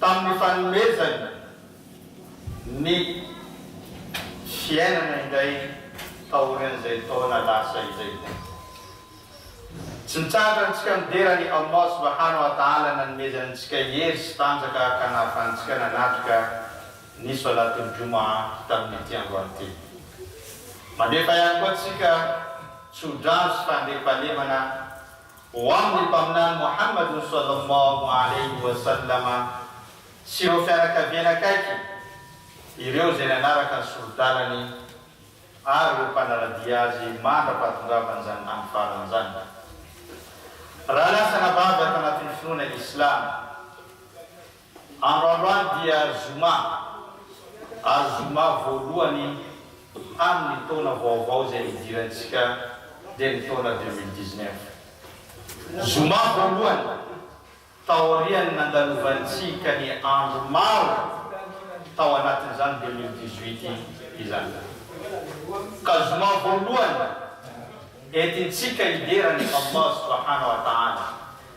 tamin'ny fanomezany ny fiainana indray taorian'izay taona lasa izay. Tsy mitsahatra antsika midera an'i Allah Subhana wa Ta'ala nanomezany antsika hery sy tanjaka ka nahafahantsika nanatrika ny Salatul Jumu'ah tamin'ity androany ity. Mandefa ihany koa antsika tso-drano sy fandriampahalemana Ho amin'ny Mpaminany Mohamadun Swallallahu Alayhi wa Sallama sy ireo fianakaviany akaiky, ireo izay nanaraka ny sori-dalany ary ireo mpanara-dia azy mandra-pahatongavany izany tany farany izany. Raha lasa nabavy ato anatin'ny finoana Islamo, Androandroany dia zoma, ary zoma voalohany amin' ny taona vaovao izay nidirantsika dia ny taona deux mille dix-neuf. Zoma voalohany taorian' ny nandalovantsika ny andro maro tao anatin' izany deux mille dix-huit izany, ka zoma voalohany entintsika hidera an' i Allah Subahana Wa Taala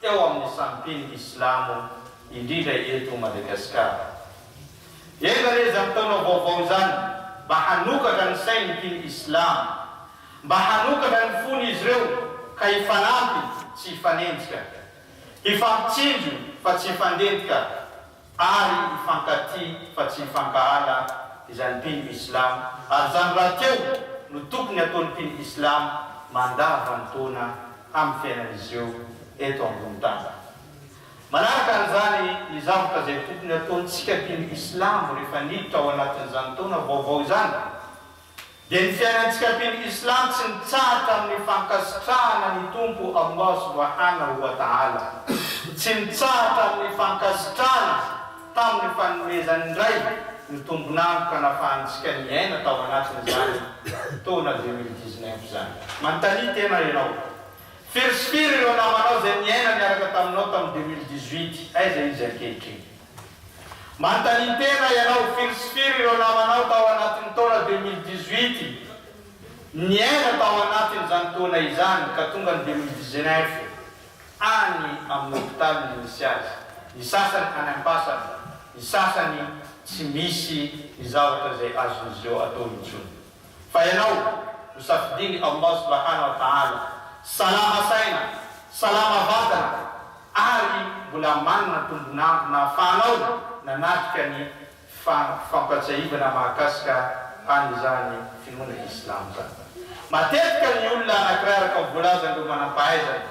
teo amin'ny sampin'ny silamo indrindra eto Madagasikara. Enga re izany taona vaovao izany mba hanokatra ny sain'ny mpino islamo, mba hanokatra ny fon'izy ireo ka hifanampy tsy hifanenjika, hifampitsinjo fa tsy hifandentika. Ary hifankatia fa tsy hifankahala izany mpino islam ary izany rahateo no tokony ataon'ny mpino islam mandavantaona amin'ny fiainan'izy ireo eto ambony tany. Manaraka an'izany ny zavatra izay tokony ataontsika mpino islam rehefa niditra ao anatin'izany taona vaovao izany. Dia ny fiainantsika mpino Islam tsy mitsahatra amin'ny fankasitrahana ny Tompo Allah Subhanahu wa Ta'ala, tsy mitsahatra amin'ny fankasitrahana tamin'ny fanomezany indray ny tombon'antoka nafahantsika niaina tao anatin'izany taona deux mille dix-neuf izany. Manontania tena ianao. Firy sy firy ireo namanao izay niaina niaraka taminao tamin'ny deux mille dix-huit, aiza izy ankehitriny? Mantanintena ianao firy sy firy ireo namanao tao anatin'ny taona deux mille dix-huit niaina tao anatin'izany taona izany ka tonga ny deux mille dix-neuf any amin'ny hopitaly ny nisy azy, ny sasany any am-pasana, ny sasany tsy misy ny zavatra izay azon'izy ireo atao intsony. Fa ianao no safidiny Allah subahana wa ta'ala salama saina, salama vatana ary mbola manana tombon'andro nahafahanao nanatrika ny fampifampatsiahivana mahakasika an'izany finoana Islam zany. Matetika ny olona anakiray araka ny voalazan'ireo manam-pahaizana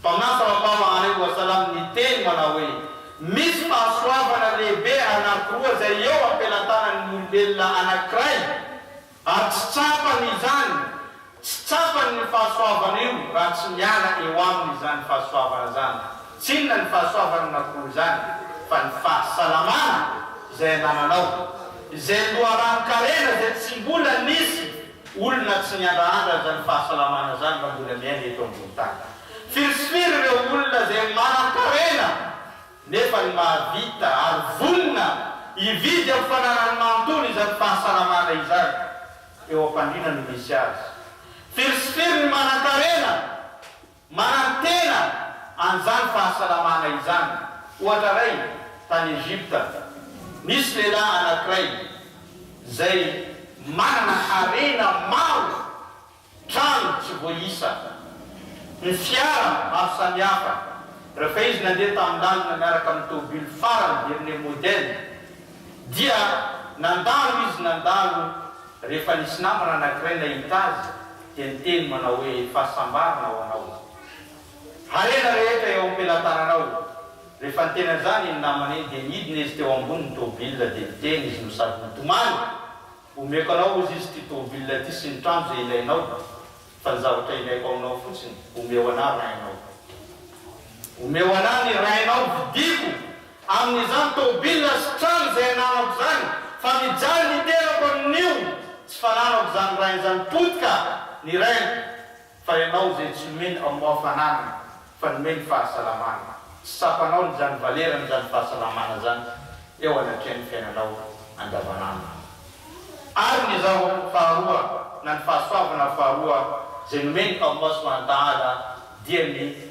Mpaminany Mpanampahama Alaihi Wasallam niteny manao hoe, Misy fahasoavana lehibe anankiroa izay eo am-pelantanan'ny olombelona anankiray, ary tsy tsapany izany, tsy tsapany ny fahasoavana io raha tsy miala eo aminy izany fahasoavana izany. Tsy inona ny fahasoavana anankiroa izany fa ny fahasalamana izay anananao, izay loharanon-karena izay tsy mbola nisy, Olona tsy miandrandra an'izany fahasalamana izany raha mbola miaina eto ambony tany. Firy sy firy ireo olona izay manankarena nefa ny mahavita ary vonona hividy amin'ny fananany manontolo izany fahasalamana izany eo am-pandriana no misy azy. Firy sy firy ny manankarena. Manantena an'izany fahasalamana izany, ohatra iray, tany Egypta. Nisy lehilahy anankiray izay manana harena maro, trano tsy voaisa, ny fiara maro samihafa. Rehefa izy nandeha tamin'ny lalana miaraka amin'ny tôbily farany dernier modèle, dia nandalo izy nandalo rehefa nisy namana anankiray nahita azy, dia niteny manao hoe, Fahasambarana ho anao, harena rehetra eo am-pelatananao! Rehefa niteny an'izany iny namana iny dia nidina izy teo ambonin'ny tomobilina dia niteny izy no sady nitomany, Omeko anao hozy izy ity tomobilina ity sy ny trano izay ilainao, fa ny zavatra ilaiko aminao fotsiny, omeo anà rainao. Omeo anà ny rainao, vidiako! Amin'izany tôbila sy trano izay ananako izany, fa mijaly ny tenako amin'io tsy fananako izany rainy izany potika ny rainy fa ianao izay tsy nomeny Allah fananana fa nomeny fahasalamana, tsy tsapanao ny izany valerany izany fahasalamana izany eo anatrehan'ny fiainanao andavanandro. Ary ny zava faharoa na ny fahasoavana faharoa izay nomeny Allah Subhanahu wa Ta'ala dia ny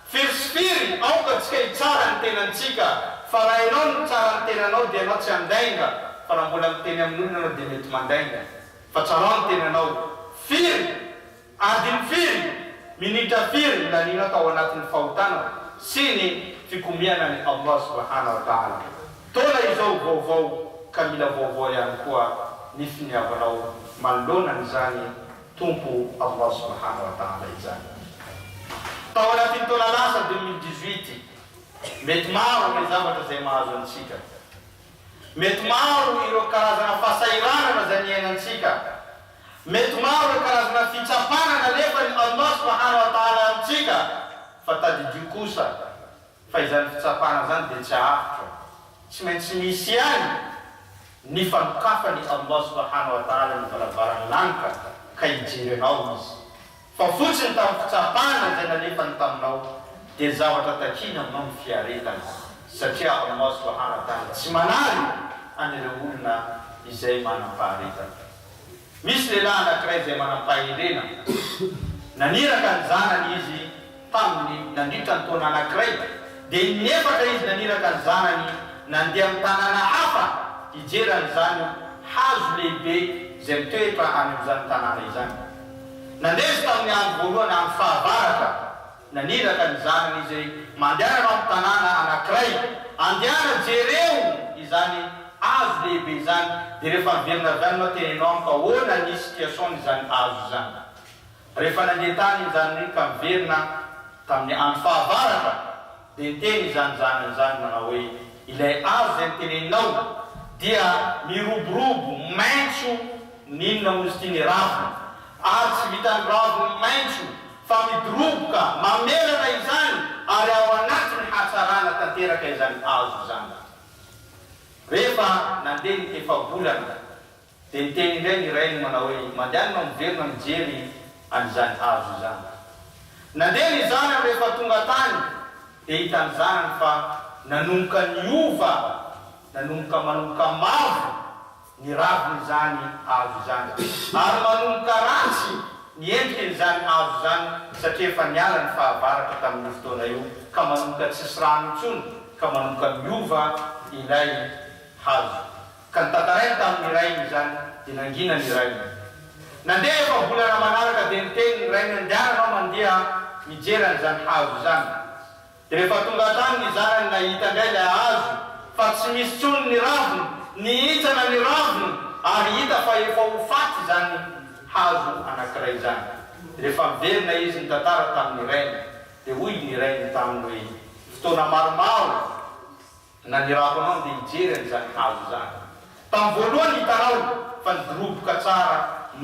Firy sy firy, aoka antsika hitsara ny tenantsika, fa raha ianao no mitsara ny tenanao dia ianao tsy handainga, fa raha mbola miteny amin'olona ianao dia mety mandainga. Fa tsarao ny tenanao. Firy? Adiny firy? Minitra firy no lanianao tao anatin'ny fahotana sy ny fikomiana an'i Allah Subhana wa Ta'ala? Taona izao vaovao ka mila vaovao ihany koa ny finiavanao manoloana an'izany Tompo Allah Subhana wa Taala izany. Tao anatin'ny taona lasa deux mille dix-huit, mety maro ireo zavatra izay mahazo antsika. Mety maro ireo karazana fahasahiranana izay niainantsika. Mety maro ireo karazana fitsapana nalefan'i Allah Subhana wa Taala amintsika, fa tadidio kosa Fa izany fitsapana izany dia tsy avotra, tsy maintsy misy ihany ny fanokafan'i Allah Subhanahu wa Ta'ala ny varavaran'ny lanitra ka hijery anao Izy, fa fotsiny tamin'ny fitsapana izay nalefany taminao dia zavatra takiana aminao ny fiaretana, satria Allah Subhanahu wa Ta'ala tsy manary an'ireo olona izay manam-paharetana. Misy lehilahy anankiray izay manam-pahendrena. Naniraka ny zanany izy taminy nandritra ny taona anankiray, dia in'efatra izy naniraka ny zanany nandeha amin'ny tanàna hafa hijery an'izany hazo lehibe izay mitoetra any amin'izany tanàna izany. Nandeha izy tamin'ny andro voalohany amin'ny fahavaratra. Naniraka ny zanany izay mandehana ao amin'ny tanàna anankiray, Andehana, jereo izany hazo lehibe izany, dia rehefa miverina avy any ianao dia heno amiko ahoana ny situation'izany hazo izany. Rehefa nandeha tany iny zanany iny ka miverina tamin'ny andro fahavaratra, dia niteny izany zanany izany nanao hoe, Ilay hazo izay noteneninao dia miroborobo maitso, N'inona moa izy ity ny raviny? Ary tsy vitan'ny raviny maitso fa midoroboka mamelana izany ary ao anatin'ny hatsarana tanteraka izany hazo izany. Rehefa nandeha ny efa-bolana dia niteny indray ny rainy manao hoe, Mandehana ianao miverina mijery an'izany hazo izany. Nandeha ny zanany rehefa tonga tany dia hitan'ny zanany fa nanomboka niova, nanomboka manomboka mavo. ny ravin'izany hazo izany, ary manomboka ratsy ny endrikin'izany hazo izany, satria efa niala ny fahavaratra tamin'io fotoana io, ka manomboka tsisy rano intsony, ka manomboka miova ilay hazo. Ka notantarainy tamin'ny rainy izany, dia nangina ny rainy. Nandeha efa-bolana manaraka, dia niteny ny rainy, Andehananao mandeha mijery an'izany hazo izany. Rehefa tonga hatrany ny zanany nahita indray ilay hazo fa tsy misy intsony ny raviny, nihintsana ny raviny ary hita fa efa ho faty izany hazo anankiray izany. Rehefa miverina izy nitantara tamin'ny rainy dia hoy ny rainy taminy hoe, fotoana maromaro, Nanirako anao ndeha hijery an'izany hazo izany. Tamin'ny voalohany hitanao fa nidoroboka tsara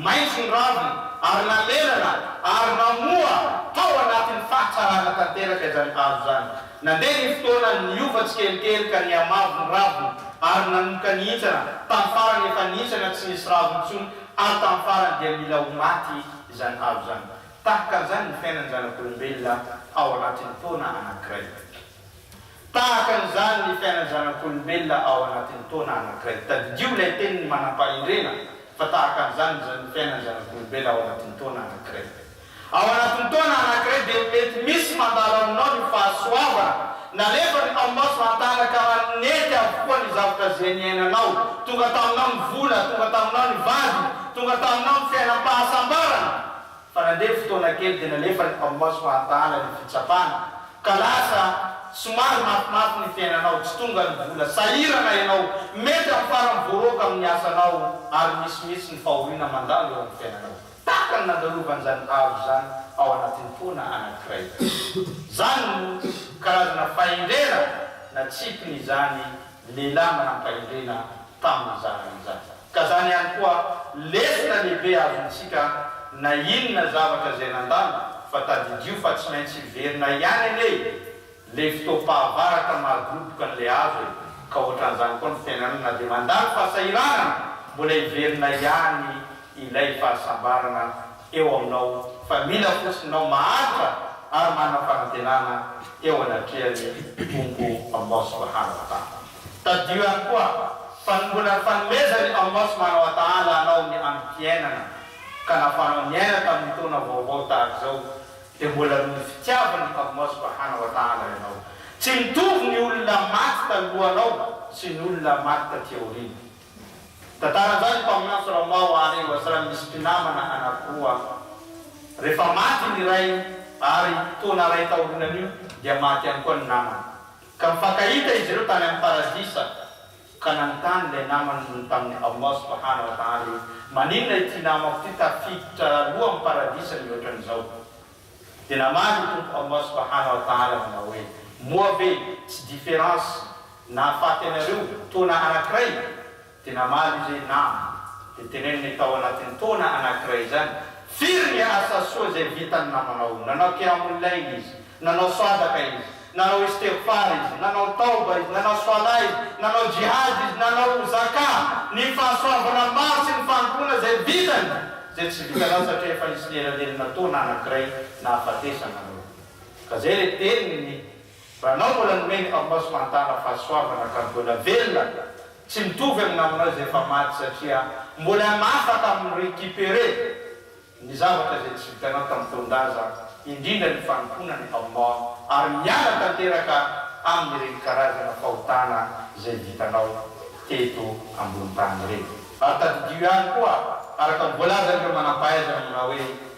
maitso ny raviny ary nanenana ary namoa tao anatin'ny fahatsarana tanteraka izany hazo izany. Nandeha ny fotoana, niova tsikelikely ka nihamavo ny raviny ary nanomboka nihintsana. Tamin'ny farany efa nihintsana tsy nisy raviny intsony ary tamin'ny farany dia mila ho maty izany hazo izany. Tahaka an'izany ny fiainan'ny zanak'olombelona ao anatin'ny taona anankiray. Tahaka an'izany ny fiainan'ny zanak'olombelona ao anatin'ny taona anankiray. Tadidio ilay tenin'ny manam-pahendrena fa tahaka an'izany ny fiainan'ny zanak'olombelona ao anatin'ny taona anankiray. Ao anatin'ny taona anankiray dia mety misy mandalo aminao ny fahasoavana. Nalefa ny taomaso hantanaka raha nety avokoa ny zavatra izay niainanao. Tonga taminao ny vola, tonga taminao ny vady, tonga taminao ny fiainam-pahasambarana. Fa nandeha ny fotoana kely dia nalefa ny mpamaozy fa adaala ny fitsapana ka lasa somary mafimafy ny fiainanao, tsy tonga ny vola, sahirana ianao, mety amin'ny farany voaroaka amin'ny asanao ary misimisy ny fahoriana mandalo eo amin'ny fiainanao tahaka ny nandalovan'izany hazo izany ao anatin'ny foana anankiray. Izany no karazana fahendrena natsipiny izany lehilahy manampahendrena tamin'izany izany. Ka zany ihany koa lesona lehibe azontsika na inona zavatra izay nandalo fa tadidio fa tsy maintsy hiverina ihany anie e! le fotoam-pahavaratra mahadoboka an'le hazo e! ka ohatran'izany koa ny fiainana na dia mandalo fahasahiranana mbola hiverina ihany ilay fahasambarana eo aminao fa mila fotsiny nao mahantra ary manam-panantenana eo anatrehan'ny Tompo Allah Subhana Wa Ta'ala. Tadidio ihany koa fa ny mbola fanomezany anao sy manao atahala anao ny androm-piainana ka nafaranao niaina tamin'ny taona vaovao tahaka izao dia mbola noho ny fitiavany anao sy mba hanao atahala ianao. Tsy mitovy ny olona maty talohanao sy ny olona maty taty aoriana. Tantara zany mpaminanso Ramao ary Wasram misy mpinamana anankiroa rehefa maty ny iray ary taona iray taorianan'io dia maty ihany koa ny namany. Ka nifankahita izy ireo tany amin'ny Paradisa, ka nanontany ilay namany tamin'i Allah Subhana wa Ta'ala hoe, Maninona ity namako ity tafiditra aloha amin'ny Paradisa mihoatra an'izao? Dia namaly i Tompo Allah Subhana wa Ta'ala nanao hoe, Moa ve tsy différence nahafaty anareo taona anankiray? Dia namaly ilay nama, dia teneniny tao anatin'ny taona anankiray izany, firy ny asa soa izay vitan'ny namanao, nanao qiyamul layl izy, nanao swadaka izy, nanao istighfar izy, nanao tawba izy, nanao salah izy, nanao jihad izy, nanao zakah, ny fahasoavana maro sy ny fanompoana izay vitany, izay tsy vitanao satria efa nisy nielanelinà taona anankiray nahafatesana anao. Ka izay ilay teniny. Ranao mbola nomeny Aomaso Mantala fahasoavana ka mbola velona tsy mitovy amin'ny namanao izay efa maty satria mbola mafaka mi recuperer ny zavatra izay tsy vitanao tamin'ny taon-daza indrindra ny fanompoana ny Aomaa ary miala tanteraka amin'ireny karazana fahotana izay vitanao teto ambony tany ireny. Ary tadidio ihany koa araka ny voalazan'ireo manampahaizana manao hoe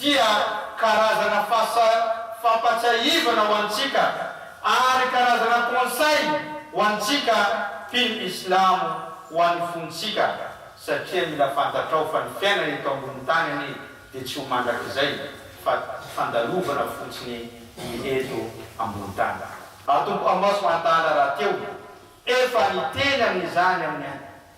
dia karazana fasa fampatsiahivana ho antsika ary karazana conseil ho antsika mpino islamo ho an'ny fontsika satria mila fantatrao fa ny fiainana eto ambony tany anie dia tsy ho mandrakizay fa fandalovana fotsiny ny eto ambony tany. Atompo Allah Subhana Taala rahateo efa niteny amin'izany amin'ny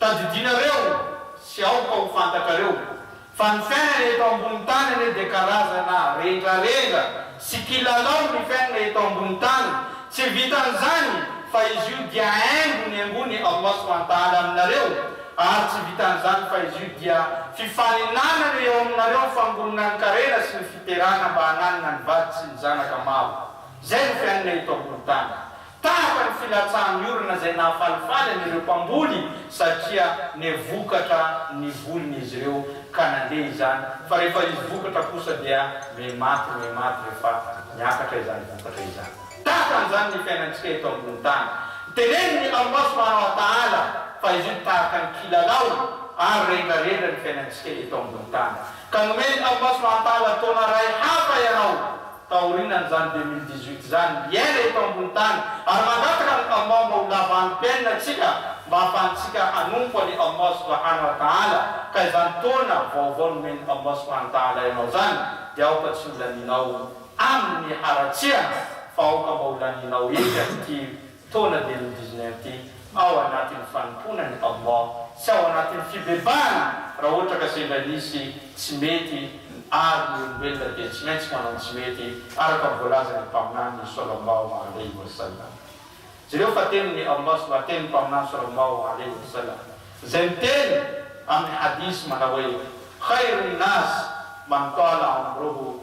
Tadidinareo sy aoka ho fantatrareo fa ny fiainana eto ambony tany anie dia karazana rendrarendra sy kilalao ny fiainana eto ambony tany, tsy vitan'izany fa izy io dia haingo nihaingoan'i Allah Subhana Ta'ala aminareo ary tsy vitan'izany fa izy io dia fifaninanana eo aminareo ny fangoronan-karena sy ny fiterana mba hananana ny vady sy ny zanaka maro, izay no fiainana eto ambony tany. Tahaka ny filatsahan'ny orana izay nahafalifaly an'ireo mpamboly satria nevokatra ny voliny izy ireo ka nandeha izany fa rehefa izy vokatra kosa dia mihematy mihematy rehefa miakatra izany vokatra izany. Tahaka an'izany ny fiainantsika eto ambony tany. Tenenin'i Allah Subhana wa Ta'ala fa izy io tahaka ny kilalao ary rendrarendra ny fiainantsika eto ambony tany. Ka nomen'i Allah Subhana wa Ta'ala taona iray hafa ianao Taorinan'izany deux mille dix-huit izany, hiaina eto ambony tany, ary mangataka an'i Allah mba ho lava androm-piainana antsika mba hahafahantsika hanompo an'i Allah subhana wa ta'ala, ka izany taona vaovao nomen'i Allah subhana wa ta'ala ianao izany dia aoka tsy ho lanianao amin'ny haratsiana fa aoka mba ho lanianao ery amin'ity Taona dia nodizina ety ao anatin'ny fanompoana ny taom-bao sy ao anatin'ny fibebahana raha ohatra ka sendra nisy tsy mety ary ny olombelona dia tsy maintsy manao ny tsy mety araka ny voalazan'ny mpaminany ny Solombao Mahaley Ursula jereo fa teny ny Allah sy mba teny ny mpaminany Solombao Mahaley Ursula izay miteny amin'ny hadith manao hoe khairun nas man tala umruhu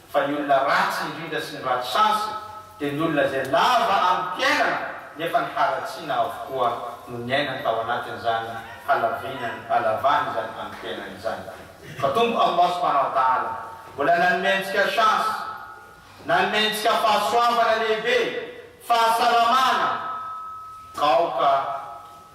Fa ny olona ratsy indrindra sy ny ratsy chance dia ny olona izay lava amin'ny fiainana nefa ny haratsiana avokoa no niainany tao anatin'izany halavianany halavany izany amin'ny fiainany izany. Fa Tompo Allah subhanahu wa ta'ala mbola nanome antsika chance, nanome antsika fahasoavana lehibe, fahasalamana, aoka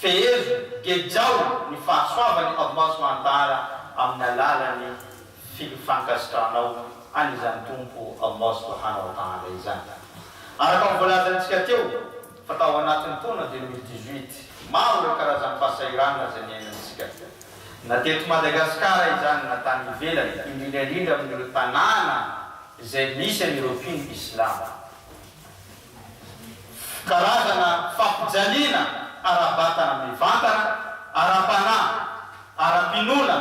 Fehezo, gejao ny fahasoavany ao maso Antara amin'ny alalan'ny fil fankasitranao an' izany Tompo ao maso mba hanao tanga izany. Araka ny voalazantsika teo fa tao anatin'ny taona deux mille dix-huit, maro ireo karazam-pahasahiranana izay niainantsika. Na teto Madagasikara izany na tany ivelany, indrindra indrindra amin'ireo tanàna izay misy an'ireo mpino Islama. Karazana fampijaliana ara-batana mivantana, ara-panahy, ara-pinoana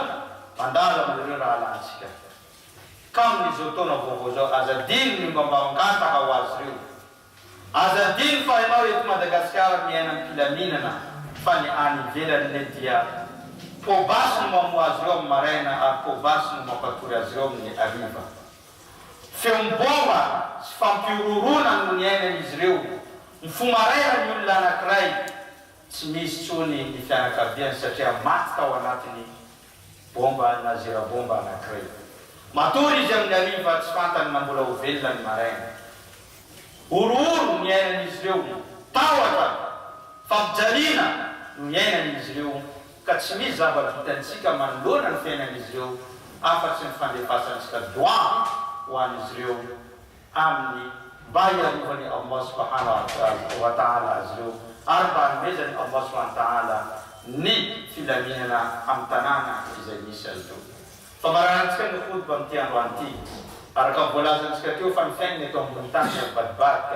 mandalo amin'ireo rahalahintsika. Ka amin'izao taona vaovao izao, aza adino ny mba mangataka ho azy ireo. Aza adino fa ianao eto Madagasikara miaina am-pilaminana fa ny any ivelany anie dia poa basy no mamoha azy ireo amin'ny maraina ary poa basy no mampatory azy ireo amin'ny hariva. Feon'ny baomba sy fampihorohoroana no niainan'izy ireo. Nifoha maraina ny olona anankiray, tsy misy intsony ny fianakaviany satria maty tao anatiny baomba na zera-baomba anankiray. Matory izy amin'ny hariva tsy fantany na mbola ho velona ny maraina. Horohoro no niainan'izy ireo, tahotra, fampijaliana no niainan'izy ireo. ka tsy misy zava-bitantsika manoloana ny fiainan'izy ireo afa-tsy ny fandefasantsika doa ho an'izy ireo aminy mba hiarovany Allah Subhanahu wa Ta'ala azy ireo ary mba hanomezany Allah Subhanahu wa Ta'ala ny filaminana amin'ny tanàna izay misy azy ireo. Famararantsika ny Khutba amin'ity androany ity, araka ny voalazantsika teo fa ny fiainana eto ambony tany dia mivadibadika,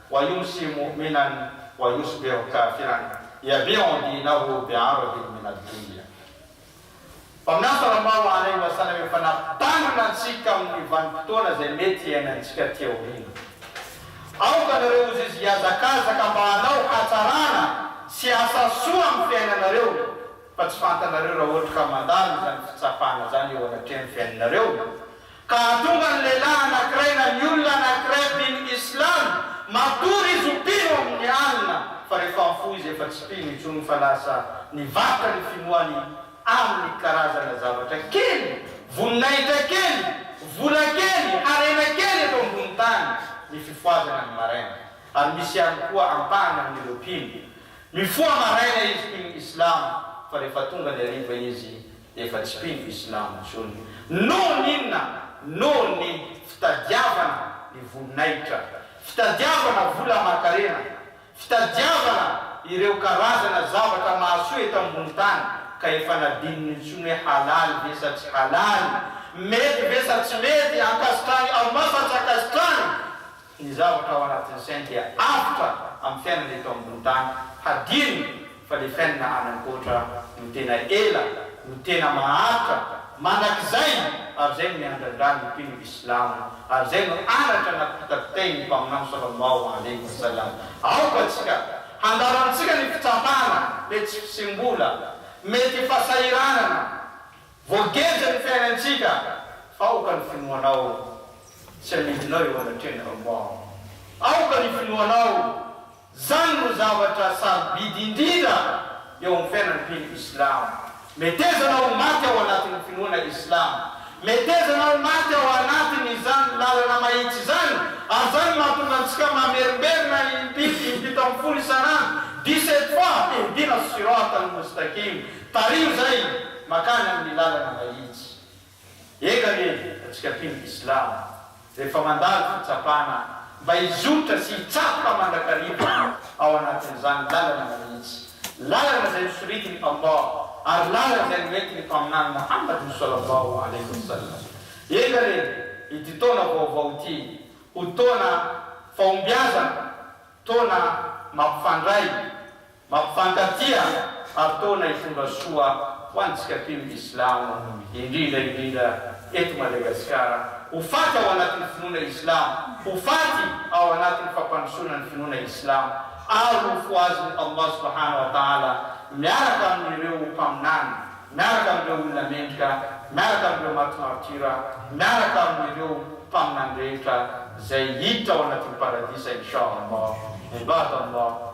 Wayuu sy Mu'minan Wayuu sy Be'o Kafiran Yaveh ao andiana roa amby aro adimy min ad-dunya. Mpaminany Sallallahu alaihi wa sallam efa nampitandrina antsika amin'ny vanim-potoana izay mety hiainantsika aty aoriana. Aoka anareo ho zizy hiazakazaka mba hanao hatsarana sy asa soa amin'ny fiainanareo fa tsy fantanareo raha ohatra ka mandalo izany fitsapana izany eo anatrehan'ny fiainanareo Ka tonga ny lehilahy anankiray na ny olona anankiray mpino Islam, matory izy ho mpino amin'ny alina, fa rehefa mifoha izy efa tsy mpino intsony fa lasa nivarotra ny finoany amin'ny karazana zavatra kely, voninahitra kely, vola kely, harena kely eto ambony tany ny fifohazana ny maraina. Ary misy ihany koa ampahany amin'ireo mpino, mifoha maraina izy mpino Islam fa rehefa tonga ny hariva izy efa tsy mpino islamo intsony noho ny inona noho ny fitadiavana ny voninahitra fitadiavana vola aman-karena fitadiavana ireo karazana zavatra mahasoa eto ambony tany ka efa nadinony intsony hoe halaly ve sa tsy halaly mety ve sa tsy mety ankasitrany Allah sa tsy ankasitrany ny zavatra ao anatin'ny sainy dia avotra amin'ny fiainana eto ambony tany, hadino fa ilay fiainana any ankoatra no tena ela, no tena maharitra, mandrakizay, ary izay no miandrandra ny mpino islamo, ary izay no anatra napitapitain'ny Mpaminany Sallallahu Alaihi Wasallam. Aoka tsika handalo amintsika ny fitsapana, ilay tsy fisim-bola, mety fasahiranana, Voageja ny fiainantsika fa aoka ny finoanao tsy hanidina eo anatrehan'ny raombao. Aoka ny finoanao, zany no zavatra sarobidy indrindra eo amin'ny fiainan'ny mpino islamo. Metezana ho maty ao anatin'ny finoana islamo. Metezana ho maty ao anatin' izany lalana mahitsy izany, ary zany no mahatonga antsika mamerimberina impito impito ambin'ny folo isan'andro, dix-sept fois, ihdina as-sirat al-mustaqim, Tariho izay makany amin'ny lalana mahitsy. Eka anie antsika mpino islamo rehefa mandalo fitsapana mba hizotra sy hitsatoka mandrakariva ao anatin'izany lalana mahitsy, lalana izay nosoritin'i Allah ary lalana izay noentin'ny Mpaminany Mohammad swallallahu alaihi wasallam. Eka re ity taona vaovao ity ho taona fahombiazana, taona mampifandray Mampifankatia ary toana hitondra soa ho antsika mpino ny Islamo, indrindra indrindra eto Madagasikara. Ho faty ao anatin'ny finoana Islamo, ho faty ao anatin'ny fampandrosoana ny finoana Islamo ary ho fohazin'i Allah Subhana wa Ta'ala miaraka amin'ireo Mpaminany, miaraka amin'ireo olona mendrika, miaraka amin'ireo maty martyrs, miaraka amin'ireo Mpaminany rehetra izay hiditra ao anatin'ny Paradisa Insha Allah. Ibad Allah.